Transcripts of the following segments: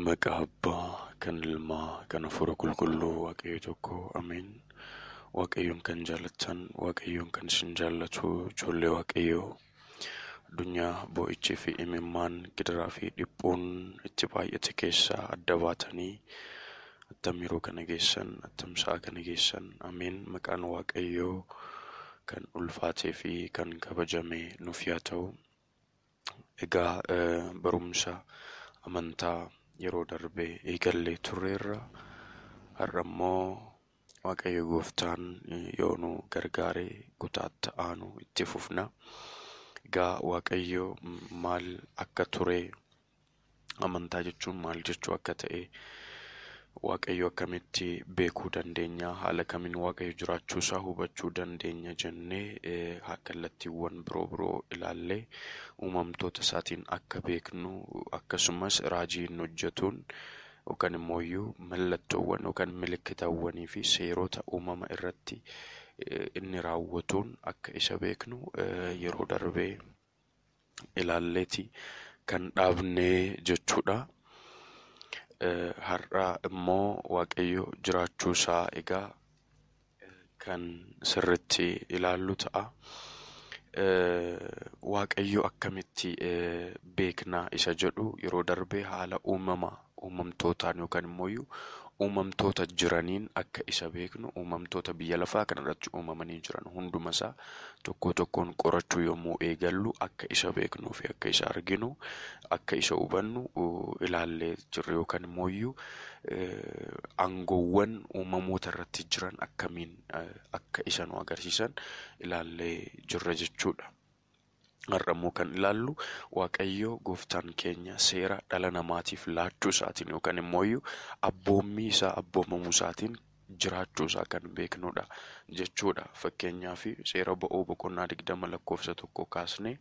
Maqaa Abbaa, kan Ilmaa, kan Hafuura Qulqulluu Waaqayyo tokko. Ameen. Waaqayyoon kan jaallattan, Waaqayyoon kan isin jaallatu, ijoollee Waaqayyoo. Addunyaa boo'ichii fi imimmaan, gidiraa fi dhiphuun itti baay'ate keessaa adda baatanii attam yeroo kana geessan, attam sa'a kana geessan. Ameen. Maqaan Waaqayyoo kan ulfaatee fi kan kabajame nuuf yaa ta'u. Egaa barumsa amantaa yeroo darbe eegallee turreerra. Har'a immoo Waaqayyo gooftaan yoo nu gargaare kutaatti aanu itti fufna. Egaa Waaqayyo maal akka ture amantaa jechuun maal jechuu akka ta'e waaqayyo akkamitti beekuu dandeenya haala kamiin waaqayyo jiraachuu isaa hubachuu dandeenya jennee eh, ha- kallattiiwwan biroo biroo ilaallee uumamtoota isaatiin akka beeknu akkasumas raajii inni hojjetuun yookaan immoo iyyuu mallattoowwan yookaan milikkitawwanii fi seerota uumama irratti eh, inni raawwatuun akka isa beeknu eh, yeroo darbee ilaalleeti kan dhaabnee jechuudha. Har'a immoo Waaqayyo jiraachuu isaa egaa kan sirritti ilaallu ta'a. Waaqayyo akkamitti beekna isa jedhu yeroo darbe haala uumamaa uumamtootaan yookaan immooyyuu uumamtoota jiraniin akka isa beeknu uumamtoota biyya lafaa kanarratti uumamanii jiran hundumasaa tokkoo tokkoon qorachuu yommuu eegallu akka isa beeknuu fi akka isa arginu akka isa hubannu ilaallee jirra yookaan immooyyuu aangoowwan uumamoota irratti jiran akkamiin akka isa nu agarsiisan ilaallee jirra jechuudha. Har'a immoo kan ilaallu Waaqayyo gooftaan keenya seera dhala namaatiif laachuu isaatiin yookaan immoo iyyuu abboommii isaa abboomamuu isaatiin jiraachuu isaa kan beeknudha jechuudha. Fakkeenyaaf seera ba'uu boqonnaa 20 lakkoofsa tokko kaasnee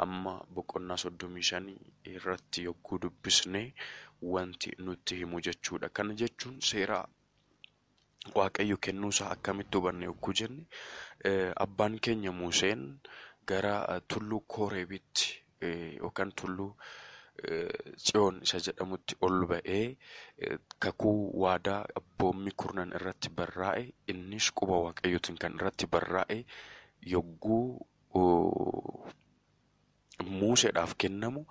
hamma boqonnaa 35 irratti yogguu dubbisne wanti nutti himu jechuudha. Kana jechuun seera Waaqayyo kennuu isaa akkamitti hubanne yogguu jenne abbaan keenya Museen gara tulluu Kooreebitti yookaan tulluu Tsiyoon isa jedhamutti ol ba'ee kakuu waadaa abboommii kurnan irratti barraa'e innis quba waaqayyootiin kan irratti barraa'e yogguu Muuseedhaaf kennamu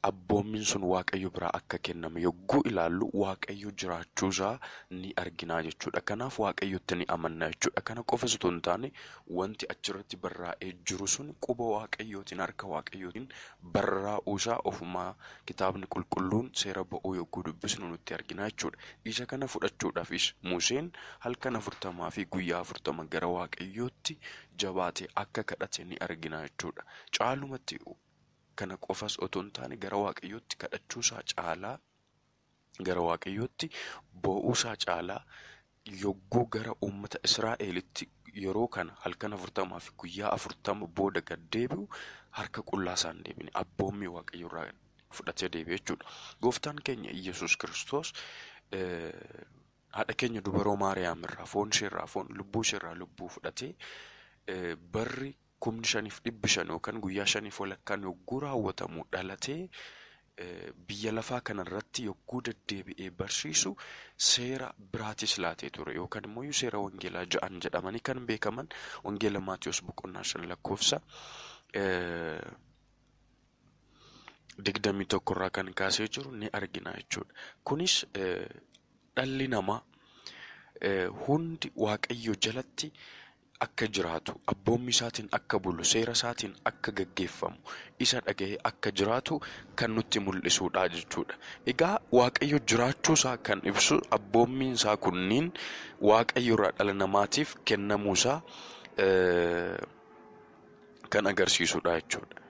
abboommiin sun Waaqayyo biraa akka kenname yogguu ilaallu Waaqayyo jiraachuu isaa ni arginaa jechuudha. Kanaaf Waaqayyotti ni amanna jechuudha. Kana qofas utuu hin taane wanti achirratti barraa'ee jiru sun quba Waaqayyootiin harka Waaqayyootiin barraa'uu isaa ofumaa kitaabni qulqulluun seera ba'uu yogguu dubbisnu nutti arginaa jechuudha. Isa kana fudhachuudhaafis Museen halkan afurtamaa fi guyyaa afurtama gara Waaqayyootti jabaate akka kadhate ni argina jechuudha. Caalumatti kana qofas otoo hin taane gara waaqayyootti kadhachuusaa caalaa gara waaqayyootti boo'uusaa caalaa yogguu gara uummata Israa'elitti yeroo kana halkan afurtamaa fi guyyaa afurtama booda gad deebi'u harka qullaa isaa hin deebine abboommii waaqayyoo irraa fudhatee deebi'e jechuudha. Gooftaan keenya Iyyasuus Kiristoos Haadha keenya dubaroo Maariyaam irraa, foon ishee irraa foon, lubbuu ishee irraa lubbuu fudhatee barri kumni shaniif dhibbi shan yookaan guyyaa shaniif walakkaan yogguu raawwatamu dhalatee biyya lafaa kanarratti yogguu deddeebi'ee barsiisu seera biraatis laatee ture yookaan immoo iyyuu seera wangeelaa ja'an jedhamanii kan beekaman wangeela Maatiyos boqonnaa shan lakkoofsa eh, digdamii tokko irraa kan kaasee jiru ni argina jechuudha. Kunis dhalli namaa hundi waaqayyo jalatti akka jiraatu, abboommii isaatiin akka bulu, seera isaatiin akka gaggeeffamu, isa dhaga'ee akka jiraatu kan nutti mul'isuudha jechuudha. Egaa waaqayyo jiraachuu isaa kan ibsu abboommiin isaa kunniin waaqayyo irraa dhala namaatiif kennamuu isaa kan agarsiisudha jechuudha.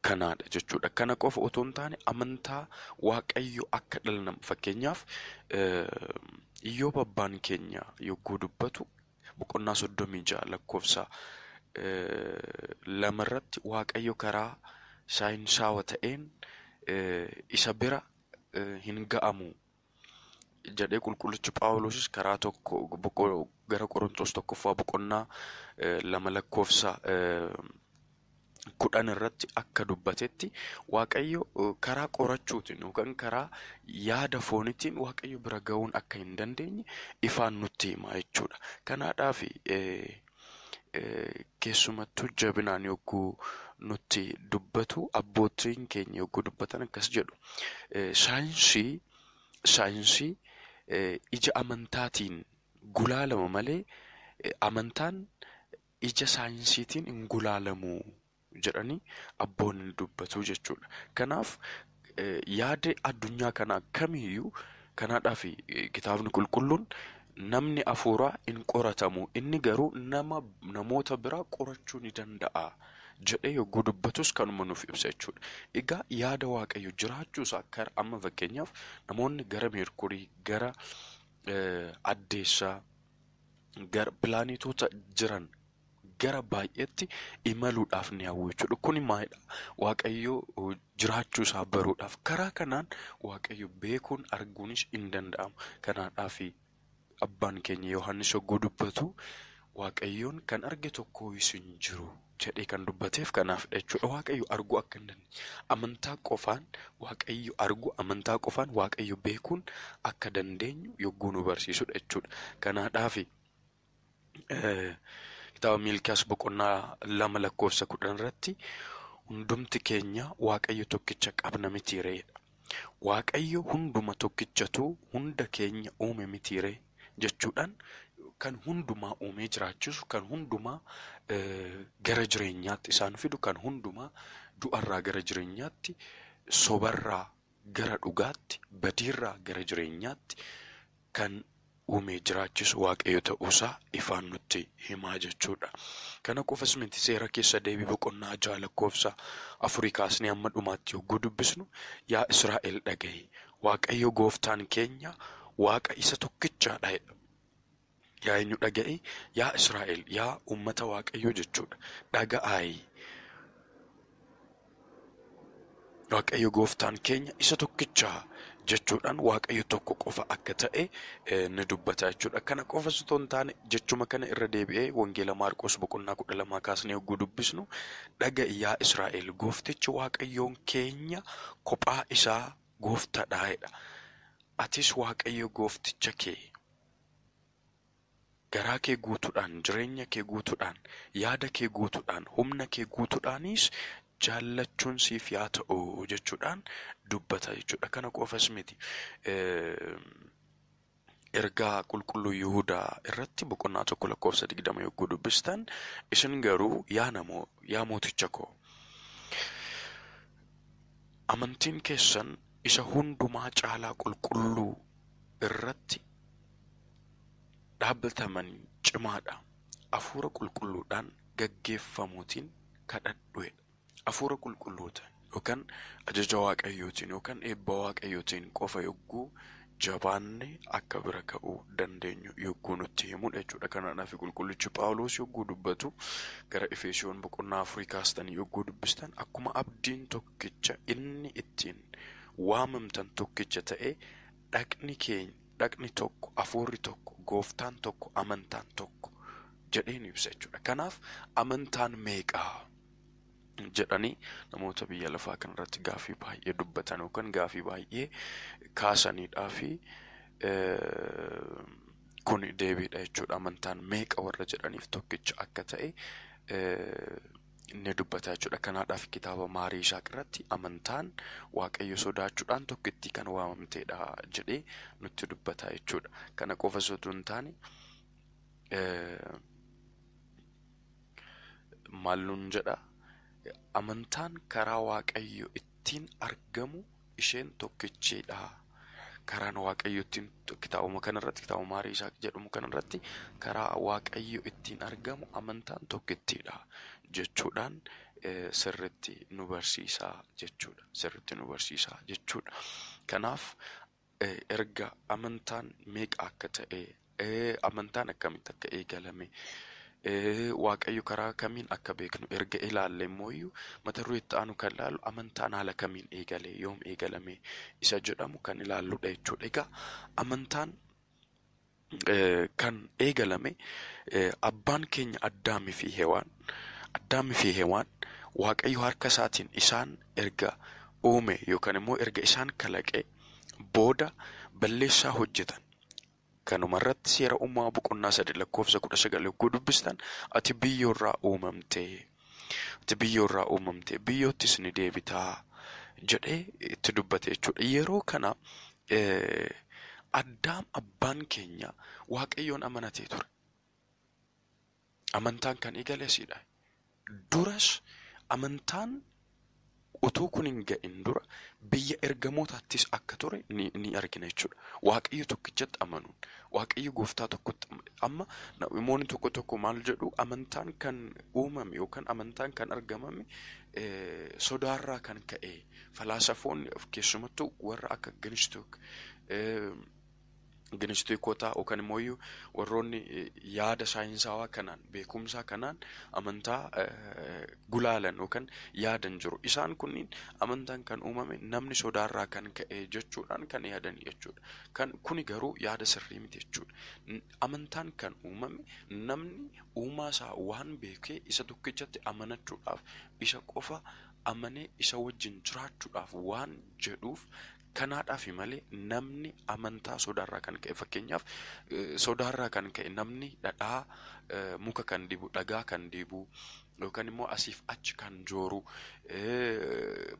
Kanaadha jechuudha. Kana qofa otoo hin taane amantaa waaqayyo akka dhala nama fakkeenyaaf yoo babbaan keenya yogguu dubbatu boqonnaa soddomii ja'a lakkoofsa lama irratti waaqayyo karaa saayinsaawa ta'een isa bira hin ga'amu jedhee qulqullichi Phaawulosis karaa tokko boqo- gara Qorontoos tokkoffaa boqonnaa eh, lama lakkoofsa eh, kudhan irratti akka dubbatetti waaqayyo eh, karaa qorachuutiin yookaan karaa yaada foonitiin waaqayyo bira ga'uun akka hin dandeenye ifaan nutti hima jechuudha. Kanaadhaaf eh, Keessumattuu jabinaan yogguu nutti dubbatu abbootiin keenya yogguu dubbatan akkas jedhu. Saayinsii saayinsii ija amantaatiin gulaalama malee amantaan ija saayinsiitiin hin gulaalamuu jedhanii abboonni ni dubbatu jechuudha. Kanaaf yaada addunyaa kanaa kamiyyuu kanaadhaaf kitaabni qulqulluun namni hafuuraa hin qoratamu inni garuu nama namoota biraa qorachuu ni danda'a jedhee yogguu dubbatus kanuma nuuf ibsa jechuudha. Egaa yaada waaqayyo jiraachuusaa kara amma fakkeenyaaf namoonni gara meerkurii gara addeessaa gara pilaanetoota jiran gara baay'eetti imaluudhaaf ni hawwu jechuudha. Kuni maalidha? Waaqayyo jiraachuu isaa baruudhaaf. Karaa kanaan Waaqayyo beekuun arguunis hin danda'amu. Kanaadhaaf abbaan keenya Yohaannis hogguu dubbatu Waaqayyoon kan arge tokko hin jiru jedhee kan dubbateef kanaaf jechuudha. Waaqayyo arguu akka hin dandeenye amantaa qofaan Waaqayyo arguu amantaa qofaan Waaqayyo beekuun akka dandeenyu yogguu nu barsiisudha jechuudha. Kanaadhaaf kitaaba miilkiyaas boqonnaa lama lakkoofsa kudhan irratti hundumti keenya waaqayyo tokkicha qabna mitiireedha. Waaqayyo hunduma tokkichatu hunda keenya uume mitiiree jechuudhaan kan hundumaa uumee jiraachisu kan hundumaa gara jireenyaatti isaan fidu kan hundumaa du'arraa gara jireenyaatti sobarraa gara dhugaatti badiirraa gara jireenyaatti kan uume jiraachisu Waaqayyo ta'uusaa ifaan nutti himaa jechuudha. Kana qofas miti seera keessa deebii boqonnaa ja'a lakkoofsa afurii kaasnee amma dhumaatti yogguu dubbisnu yaa Israa'el dhaga'i Waaqayyo gooftaan keenya Waaqa isa tokkichaadha jedha. Yaa eenyu dhaga'i yaa Israa'el yaa uummata Waaqayyoo jechuudha dhaga'aayi Waaqayyo gooftaan keenya isa tokkicha jechuudhaan Waaqayyo tokko qofa akka ta'e eh, ni dubbata jechuudha. Kana qofa osoo hin taane jechuma kana irra deebi'ee Wangeela Maarqos boqonnaa kudha lamaa kaasnee yogguu dubbisnu dhaga yaa Israa'el gooftichi Waaqayyoon keenya kophaa isaa gooftaadha jedha. Atis Waaqayyo goofticha kee Garaa kee guutuudhaan, jireenya kee guutuudhaan, yaada kee guutuudhaan, humna kee guutuudhaanis jaallachuun siif yaa ta'u jechuudhaan dubbata jechuudha. Kana qofas miti. Ergaa qulqulluu Yihudaa irratti boqonnaa tokko lakkoofsa digdama yogguu dubbistan isin garuu yaa namoo yaa mooticha koo amantiin keessan isa hundumaa caalaa qulqulluu irratti dhaabbataman cimaadha. Afuura qulqulluudhaan gaggeeffamuutiin kadhadhuedha. Afuura qulqulluutiin yookaan ajaja waaqayyootiin yookaan eebba waaqayyootiin qofa yogguu jabaanne akka bira ga'uu dandeenyu yogguu nutti himudha jechuudha. Kanaaf qulqullichi Phaawulos yogguu dubbatu gara Efeesiyoon boqonnaa afurii kaastanii yogguu dubbistan akkuma abdiin tokkicha inni ittiin waamamtan tokkicha ta'e dhaqni keenya dhaqni tokko, hafuurri tokko, gooftaan tokko, amantaan tokko jedhee nu ibsa jechuudha. Kanaaf amantaan meeqaa? jedhanii namoota biyya lafaa kanarratti gaafii baay'ee dubbatan yookaan gaafii baay'ee kaasaniidhaa fi kun deebiidha jechuudha. Amantaan meeqa warra jedhaniif tokkicha akka ta'e ni dubbata jechuudha. Kanaadhaaf kitaaba Maarii Isaaq irratti amantaan Waaqayyo sodaachuudhaan tokkittii kan waamamteedha jedhee nutti dubbata jechuudha. Kana qofa sotuu hin taane maal nuun jedha amantaan karaa Waaqayyo ittiin argamu isheen tokkichi dha. Karaan Waaqayyo ittiin kitaabuma kana irratti kitaabuma Maarii Isaaq jedhamu kana irratti karaa Waaqayyo ittiin argamu amantaan tokkittiidha jechuudhaan eh, sirritti nu barsiisa jechuudha. Sirritti nu barsiisa jechuudha. Kanaaf eh, erga amantaan meeqa akka ta'e Ee, amantaan akkamitti akka eegalame, ee, Waaqayyo karaa kamiin akka beeknu erga ilaalle immoo iyyuu mata duree itti aanu kan ilaallu amantaan haala kamiin eegale, yoom eegalame isa jedhamu kan ilaalludha jechuudha. Egaa amantaan eh, kan eegalame eh, abbaan keenya Addaamii fi Hewaan Addaamii fi Hewaan Waaqayyo harka isaatiin isaan erga uume yookaan immoo erga isaan kalaqe booda balleessaa hojjetan. Kanumarratti Seera Uumamaa boqonnaa 3 lakkoofsa 19 yogguu dubbistan ati biyyoorraa uumamte, ati biyyoorraa uumamte, biyyoottis ni deebita jedhee itti dubbate jechuudha. Yeroo kana Addaam abbaan keenya Waaqayyoon amanatee ture. Amantaan kan eegale asiidha. Duras amantaan utuu kun hin ga'in dura biyya ergamootaattis akka ture ni, ni argina jechuudha. Waaqayyo tokkichatti amanuun, Waaqayyo gooftaa tokkotti amanu. Amma namoonni tokko tokko maal jedhu amantaan kan uumame yookaan amantaan kan argamame eh, sodaarraa kan ka'e falaasafoonni keessumattuu warra akka Gnostic eh, Ginistiikotaa yookaan immoo iyyuu warroonni yaada saayinsaawaa kanaan beekumsaa kanaan amantaa gulaalan yookaan yaadan jiru. Isaan kunniin amantaan kan uumame namni sodaarraa kan ka'e jechuudhaan kan yaadan jechuudha. Kan kuni garuu yaada sirrii miti jechuudha. Amantaan kan uumame namni uumaa isaa waan beekee isa tokkichatti amanachuudhaaf isa qofa amanee isa wajjin jiraachuudhaaf waan jedhuuf Kanaadhaafi malee namni amantaa sodaarraa kan ka'e fakkeenyaaf sodaarraa kan ka'e namni dhadhaa muka kan dibu dhagaa kan dibu yookaan immoo asiif achi kan jooru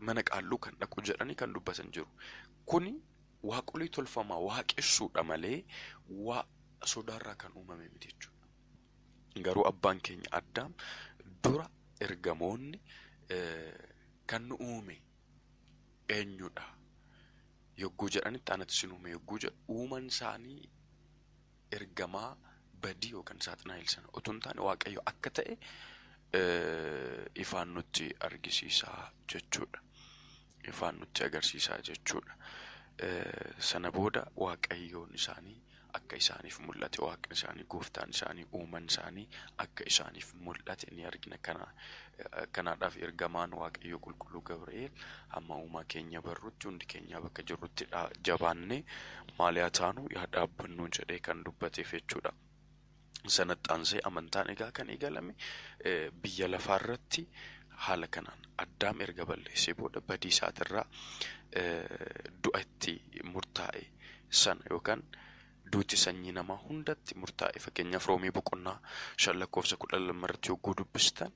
mana qaalluu kan dhaqu jedhanii kan dubbatan jiru. Kuni waaqolii tolfamaa waaqessuudha malee waa sodaarraa kan uumame miti jechuudha. Garuu abbaan keenya addaam dura ergamoonni kan nu uume eenyudha yogguu jedhanitti anatu isin uume yogguu jedhu uuman isaanii ergamaa badii yookaan saaxinaayil sana utuu hin taane waaqayyo akka ta'e eh, ifaan nutti argisiisaa jechuudha. Ifaan nutti agarsiisaa jechuudha. Eh, Sana booda waaqayyoon isaanii akka isaaniif mul'ate waaqni isaanii gooftaan isaanii uuman isaanii akka isaaniif mul'ate ni argina kana kanaadhaaf ergamaan waaqayyo qulqulluu gabri'eel hamma uumaa keenya barrutti hundi keenyaa bakka jirrutti jabaannee maaliyaa taanu yaa dhaabbannuu jedhee kan dubbateef jechuudha. Sanatti aansee amantaan egaa kan eegalame biyya lafaa irratti haala kanaan addaam erga balleessee booda badii isaatirraa du'a itti murtaa'e sana yookaan duuti sanyii namaa hundatti murtaa'e fakkeenyaaf roomii boqonnaa shan lakkoofsa kudha lama irratti yogguu dubbistan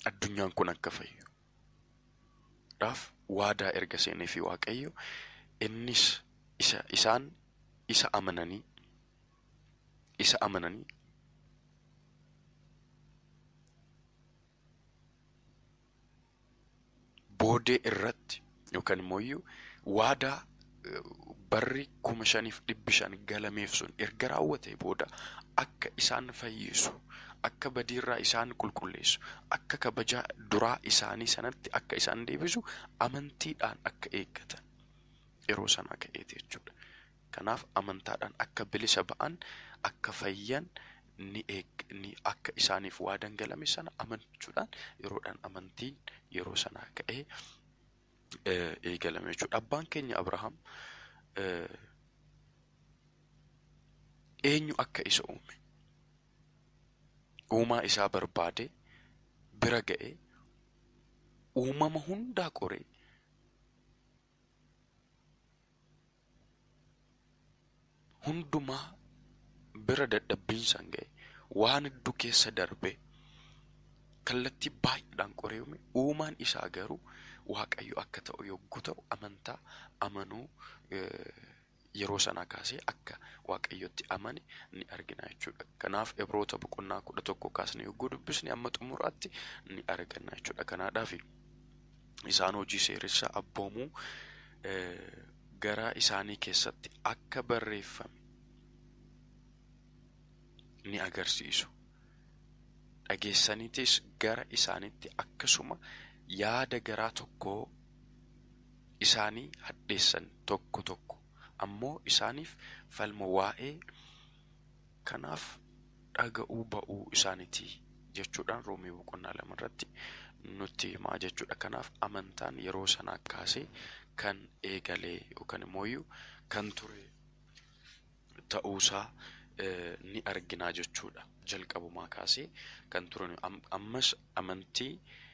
addunyaan kun akka fayyu dhaaf waadaa erga seenee fi waaqayyo innis isa isaan isa amananii isa amananii boodee irratti yookaan immoo iyyuu waadaa eh, barri kuma shaniif dhibbi shan galameef sun erga raawwatee booda akka isaan fayyisu akka badiirraa isaan qulqulleessu akka kabajaa duraa isaanii sanatti akka isaan deebisu amantiidhaan akka eeggatan yeroo sanaa ka'eeti jechuudha. Kanaaf amantaadhaan akka bilisa ba'an, akka fayyan ni eeg, ni, akka isaaniif waadan galame sana amanchuudhaan yeroodhaan amantiin yeroo sanaa ka'ee eegalame jechuudha. Abbaan keenya Abrahaam eenyu akka isa uume uumaa isaa barbaade bira ga'e uumama hundaa qoree hundumaa bira dadhabbiin isaan ga'e waan hedduu keessa darbee kallattii baay'eedhaan qoreeyume uumaan isaa garuu waaqayyo akka ta'u yogguu ta'u amantaa amanuu yeroo sanaa kaasee akka waaqayyotti amane ni argina jechuudha. Kanaaf Ibroota boqonnaa kudha tokko kaasnee yogguu dubbisne amma xumuraatti ni arganna jechuudha. Kanaadhaafi. isaan hojii seeressa abboomuu garaa isaanii keessatti akka barreeffame ni agarsiisu. Dhageessaniitis gara isaanitti akkasuma yaada garaa tokkoo isaanii hadheessan tokko tokko ammoo isaaniif falmu waa'ee Kanaaf dhaga'uu ba'uu isaaniti jechuudhaan Roomee boqonnaa lama irratti nutti himaa jechuudha. Kanaaf amantaan yeroo sanaa kaasee kan eegalee yookaan immoo iyyuu kan ture ta'uusaa ni arginaa jechuudha. Jalqabumaa kaasee kan turan ammas amantii